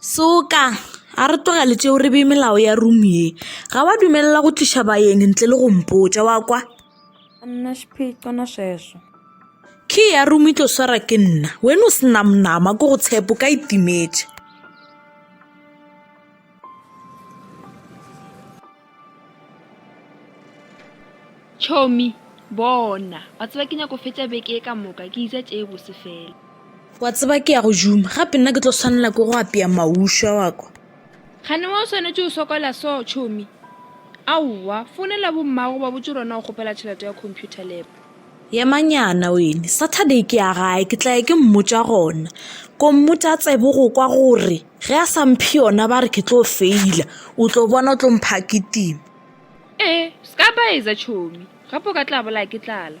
Soka! A re tlogele tšeo re bee melao ya room ye. Ga wa dumelela go tliša baeng ntle le go mpotša, wa kwa? Ka nna sephexana seso. Key ya room e tlo swara ke nna. Wena o sena monama ko go tshepo ka itimetše. Chomi, Bona, wa tseba ke nyako fetša beke e ka moka ke itša tše bose fela. Wa tseba ke ya go juma gape nna ke tlo swanela ke go apea maušwa wa kwa. Gane wa o swanetše o sokola so, Chomi. Aowa, founela bommago ba botše rona o kgopela tšhelete ya computer lab. Yemanyana wene, Saturday ke ya gae, ke tla ya ke mmotša gona. Kommotša tsebe go kwa gore ge a sa mphe yona ba re ke tlo feila, o tlo bona o tlo mpha kitima. Ee, se ka ba etsa tšhomi, gape o ka tla bolaya ke tlala.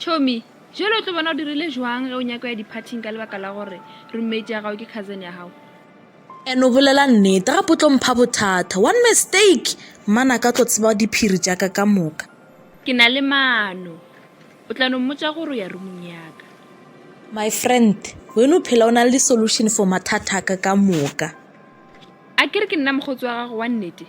Chomi, jalo o tlo bona o dirile jwang ge o nyako ya diphathing ka lebaka la gore roommate ya gago ke cousin ya gago? And o bolela nnete gape o tlo mpha bothata. One mistake mmana ka tlo tseba diphiri tša ka ka moka. Ke na le maano. O tla no mmotša gore o ya roomong ya ka. My friend, wena o phela o na le di-solution for mathata a ka ka moka. A ke re ke nna mokgotsi wa gago wa nnete?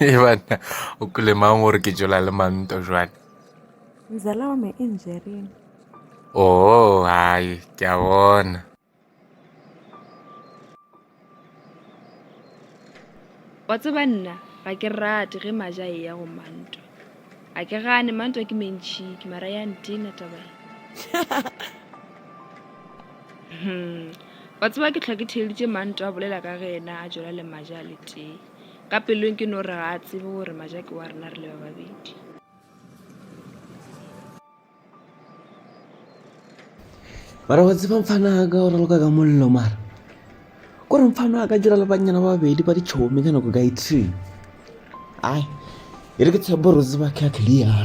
e banna o kule mang gore ke jola le manto jwale mzala wa me engineering oh hayi ke a bona wa tseba nna ga ke rate ge maja e ya go manto a ke gane mantwa ke mentšhi ke mara ya ntena taba e hmm. wa tseba ke tlhwa ke theleditše mantwa a bolela ka ge ena a jola le maja a letee ka pelong ke no re ga a tsebe gore maja ke wa rena re le ba babedi mara wa tseba mfana ka go raloka ka mollo mara kore mfana a ka dira le bannyana ba babedi ba ditšhomi ka nako ka e three ai e re ke tshepo re tseba ke a clear